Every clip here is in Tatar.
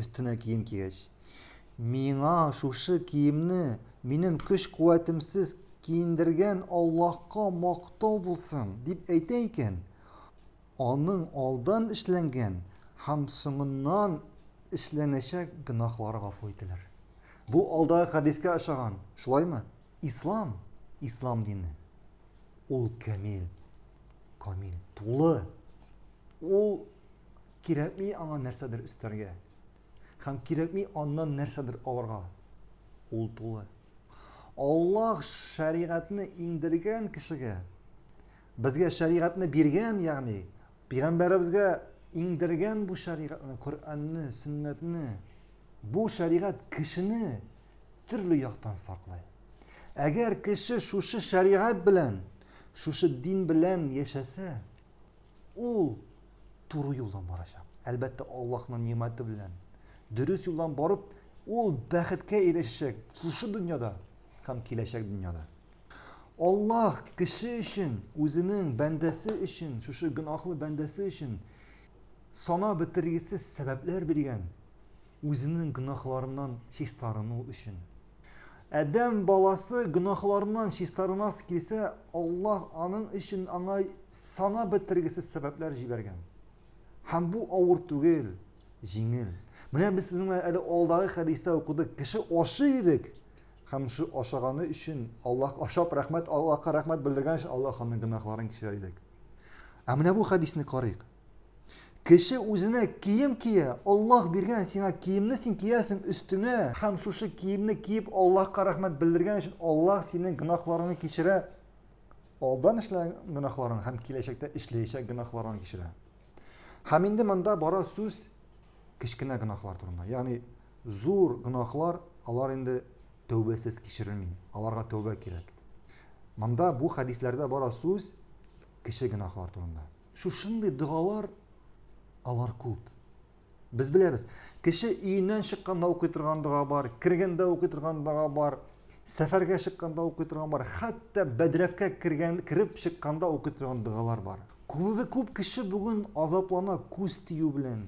Өстенә кием кигәч. Миңа шушы киемне минем көч-куәтемсез киендергән Аллаһка мактау булсын, дип әйтә икән. Аның алдан эшләнгән һәм соңыннан эшләнәчәк гөнаһлары гафу ителер. Бу алдагы хәдискә ошаган, шулаймы? Ислам, ислам дине. Ул камил, камил, тулы. Ул Кирәкми аңа нәрсәдер өстәргә. Һәм кирәкми аннан нәрсәдер алырга. Ул тулы. Аллаһ шәригатьне иңдергән кешегә, безгә шәригатьне биргән, ягъни пигамбәребезгә иңдергән бу шәригатьне, Коръәнне, сөннәтне, бу шәригать кешене төрле яктан саклый. Әгәр кеше шушы шәригать белән, шушы дин белән яшәсә, Ул туры юлдан барачак. Әлбәттә, Аллаһның нигъмәте белән. Дөрес юлдан барып, ул бәхеткә ирешәчәк шушы дөньяда һәм киләчәк дөньяда. Аллаһ кеше өчен, үзенең бәндәсе өчен, шушы гөнаһлы бәндәсе өчен сана бетергесез сәбәпләр биргән, үзенең гөнаһларыннан чистарыну өчен. Адәм баласы гөнаһларыннан чистарынасы килсә, Аллаһ аның өчен аңа санап бетергесез сәбәпләр җибәргән. Һәм бу авыр түгел, җиңел. Менә без сезнең белән әле алдагы хәдистә укыдык, кеше ашый идек, һәм шул ашаганы өчен Аллаһ ашап рәхмәт, Аллаһка рәхмәт белдергән өчен Аллаһ аның гөнаһларын кичерә идек. Ә менә бу хәдисне карыйк. Кеше үзенә кием кия, Аллаһ биргән сиңа киемне син киясең өстеңә, һәм шушы киемне киеп Аллаһка рәхмәт белдергән өчен Аллаһ синең гөнаһларыңны кичерә, алдан эшләгән гөнаһларың һәм киләчәктә эшләячәк гөнаһларың кичерә. Һәм инде монда бара сүз кечкенә гөнаһлар турында. Ягъни зур гөнаһлар, алар инде тәүбәсез кичерелми, аларга тәүбә кирәк. Монда бу хәдисләрдә бара сүз кече гөнаһлар турында. Шушындый догалар, алар күп. Без беләбез, кеше өеннән чыкканда укый торган дога бар, кергәндә укый торган дога бар, сәфәргә чыкканда укый торган бар, хәтта бәдрәфкә кергән, кереп чыкканда укый торган догалар бар. Күбе күп кеше бүген азаплана күз тию белән,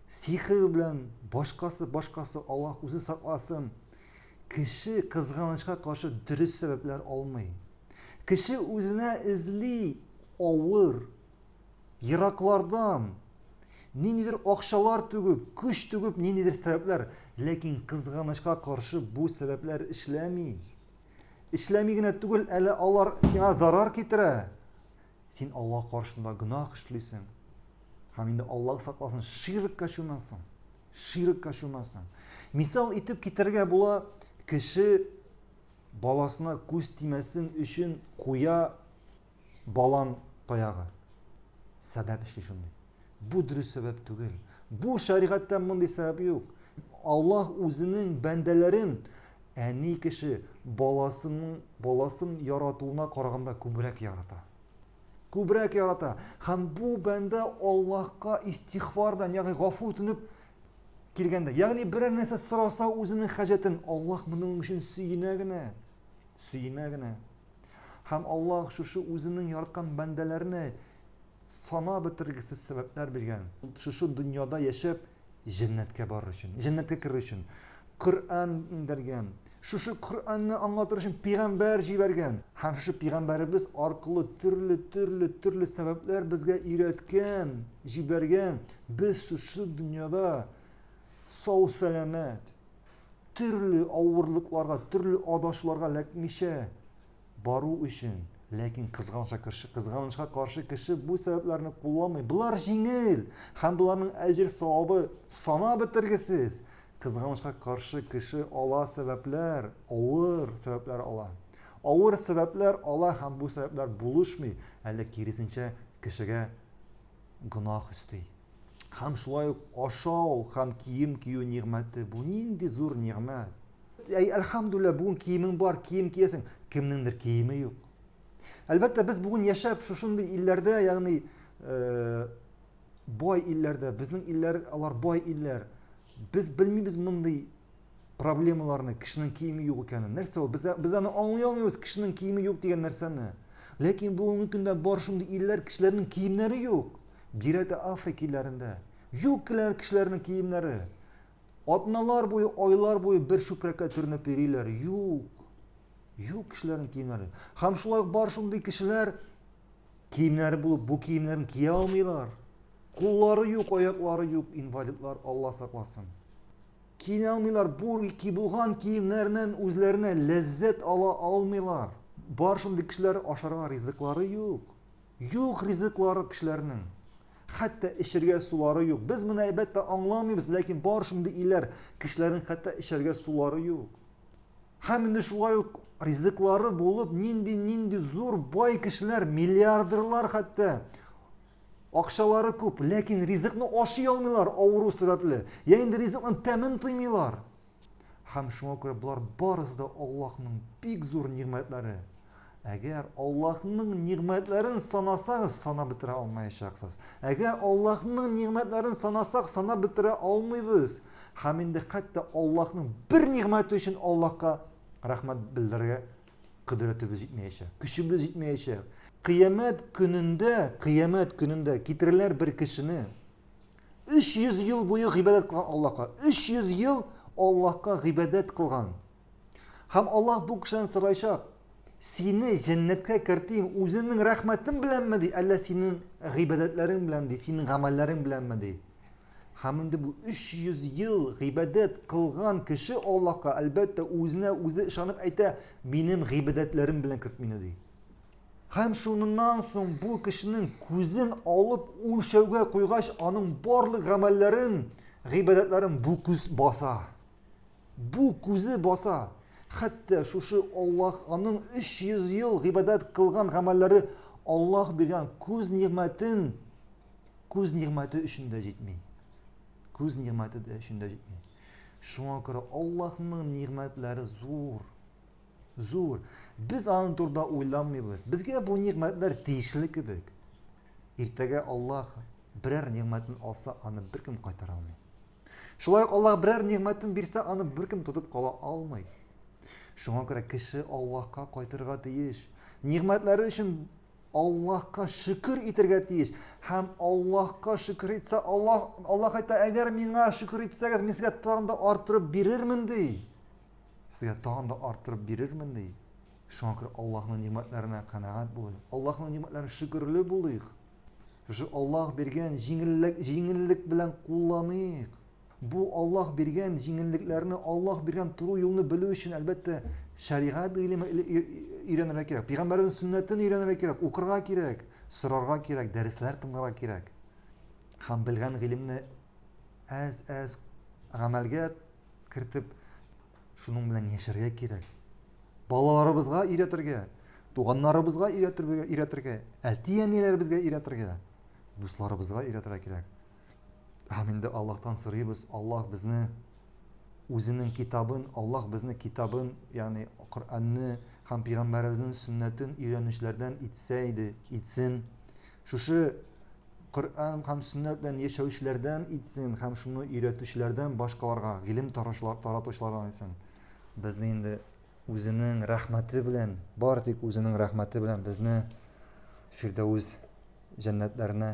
сихер белән, башкасы, башкасы, Аллаһ үзе сакласын. Кеше кызганычка каршы дөрес сәбәпләр алмый. Кеше үзенә эзли авыр, ераклардан, ниндидер акчалар түгеп, көч түгеп, ниндидер сәбәпләр, ләкин кызганычка каршы бу сәбәпләр эшләми. Эшләми генә түгел, әле алар сиңа зарар китерә. Син Аллаһ каршында гөнаһ эшлисең. Һәм инде Аллаһ сакласын, ширкка чумасың. Ширкка чумасың. Мисал итеп китерергә була, кеше баласына күз тимәсен өчен куя балан таягы. Сәбәп эшли шундый. Бу дөрес сәбәп түгел. Бу шәригатьтә мондый сәбәп юк. Аллаһ үзенең бәндәләрен әни кеше баласының баласын яратуына караганда күбрәк ярата. Күбрәк ярата. Һәм бу бәндә Аллаһка истихвар белән, ягъни гафу үтенеп килгәндә, ягъни берәр нәрсә сораса үзенең хаҗәтен, Аллаһ моның өчен сөенә генә. Сөенә генә. Һәм Аллаһ шушы үзенең яраткан бәндәләренә санап бетергесез сәбәпләр биргән, шушы дөньяда яшәп, җәннәткә барыр өчен, җәннәткә керер өчен. Коръән иңдергән, шушы Коръәнне аңлатыр өчен пигамбәр җибәргән. Һәм шушы пигамбәребез аркылы төрле, төрле, төрле сәбәпләр безгә өйрәткән, җибәргән. Без шушы дөньяда сау сәламәт, төрле авырлыкларга, төрле адашларга эләкмичә, бару өчен, ләкин кызганычка каршы, кызганычка каршы кеше бу сәбәпләрне кулланмый. Болар җиңел һәм боларның әҗер савабы сана бетергесез. Кызганычка каршы кеше ала сәбәпләр, авыр сәбәпләр ала. Авыр сәбәпләр ала һәм бу сәбәпләр булышмый, әле киресенчә кешегә гөнаһ өсти. Һәм шулай ук ашау һәм кием кию нигъмәте бу нинди зур нигъмәт! Әй, әлхәмдүлилла, бүген киемең бар, кием киясең, кемнеңдер киеме юк. Әлбәттә, без бүген яшәп шушындый илләрдә, ягъни э, бай илләрдә, безнең илләр, алар бай илләр. Без белмибез мондый проблемаларны, кешенең киеме юк икәнен. Нәрсә ул? Без, без аны аңлый алмыйбыз, кешенең киеме юк дигән нәрсәне. Ләкин бүгенге көндә бар шундый илләр, кешеләрнең киемнәре юк. Бирәтә Африка илләрендә. Юк киләр кешеләрнең киемнәре. Атналар буе, айлар буе бер чүпрәккә төренеп йөриләр. Юк. Юк кешеләрнең киемнәре. Һәм шулай бар шундый кешеләр киемнәре булып, бу киемнәрен кия алмыйлар. Куллары юк, аяклары юк, инвалидлар, Алла сакласын. Киенә алмыйлар, бур ки булган киемнәреннән үзләренә ләззәт ала алмыйлар. Бар шундый кешеләр ашарга ризыклары юк. Юк ризыклары кешеләрнең. Хәтта эчергә сулары юк. Без моны әлбәттә аңламыйбыз, ләкин бар шундый илләр кешеләрнең хәтта эчәргә сулары юк. Һәм инде шулай ук ризыклары булып, нинди-нинди зур бай кешеләр, миллиардерлар хәтта Акчалары күп, ләкин ризыкны ашый алмыйлар авыру сәбәпле, я инде ризыкның тәмен тоймыйлар. Һәм шуңа күрә болар барысы да Аллаһның бик зур нигъмәтләре. Әгәр Аллаһның нигъмәтләрен санасагыз, санап бетерә алмаячаксыз. Әгәр Аллаһның нигъмәтләрен санасак, санап бетерә алмыйбыз. Һәм инде хәтта Аллаһның бер нигъмәте өчен Аллаһка рәхмәт белдерергә Кодрәтебез җитмәячәк, көчебез җитмәячәк. Кыямәт көнендә, кыямәт көнендә китереләр бер кешене. 300 ел буе гыйбадәт кылган Аллаһка. 300 ел Аллаһка гыйбадәт кылган. Һәм Аллаһ бу кешедән сорайчак, сине җәннәткә кертим үзеңнең рәхмәтең беләнме ди, әллә синең гыйбадәтләрең белән ди, синең гамәлләрең беләнме ди? Һәм инде бу 300 ел гыйбадәт кылган кеше Аллаһка, әлбәттә, үзенә үзе ышанып әйтә, минем гыйбадәтләрем белән керт мине ди. Һәм шуннан соң бу кешенең күзен алып үлчәүгә куйгач, аның барлык гамәлләрен, гыйбадәтләрен бу күз баса. Бу күзе баса. Хәтта шушы Аллаһ аның 300 ел гыйбадәт кылган гамәлләре Аллаһ биргән күз нигъмәтен Күз нигъмәте өчен дә җитми. Күз нигъмәте дә өчен дә җитми. Шуңа күрә Аллаһның нигъмәтләре зур. Зур. Без аны турда уйламыйбыз. Безгә бу нигъмәтләр тиешле кебек. Иртәгә Аллаһ берәр нигъмәтен алса, аны беркем кайтара алмый. Шулай ук Аллаһ берәр нигъмәтен бирсә, аны беркем тотып кала алмый. Шуңа күрә кеше Аллаһка кайтырга тиеш. Нигъмәтләре өчен Аллаһка шөкер итергә тиеш. Һәм Аллаһка шөкер итсә, Аллаһ, Аллаһ әйтә, әгәр миңа шөкер итсәгез, мин сезгә тагын да арттырып бирермен, ди. Сезгә тагын да арттырып бирермен, ди. Шуңа күрә Аллаһның нимәтләренә канәгать булыйк. Аллаһның нимәтләренә шөкерле булыйк. Шушы Аллаһ биргән җиңеллек, җиңеллек белән кулланыйк. Бу Аллаһ биргән җиңеллекләрне, Аллаһ биргән туры юлны белү өчен, әлбәттә, шәригать гыйлеме өйрәнергә кирәк. Пәйгамбәрнең сөннәтен өйрәнергә кирәк, укырга кирәк, сорарга кирәк, дәресләр тыңларга кирәк. Һәм белгән гыйлемне әз-әз гамәлгә кертеп, шуның белән яшәргә кирәк. Балаларыбызга өйрәтергә, туганнарыбызга өйрәтергә, әти-әниләребезгә өйрәтергә, дусларыбызга өйрәтергә кирәк. Һәм инде Аллаһтан сорыйбыз, Аллаһ безне үзенең китабын, Аллаһ безне китабын, ягъни Коръәнне һәм пәйгамбәребезнең сөннәтен өйрәнүчеләрдән итсә иде, итсен. Шушы Коръән һәм сөннәт белән яшәүчеләрдән итсен һәм шуны өйрәтүчеләрдән башкаларга, гыйлем таратучылардан итсен. Безне инде үзенең рәхмәте белән, бар тик үзенең рәхмәте белән безне Фирдәүс җәннәтләренә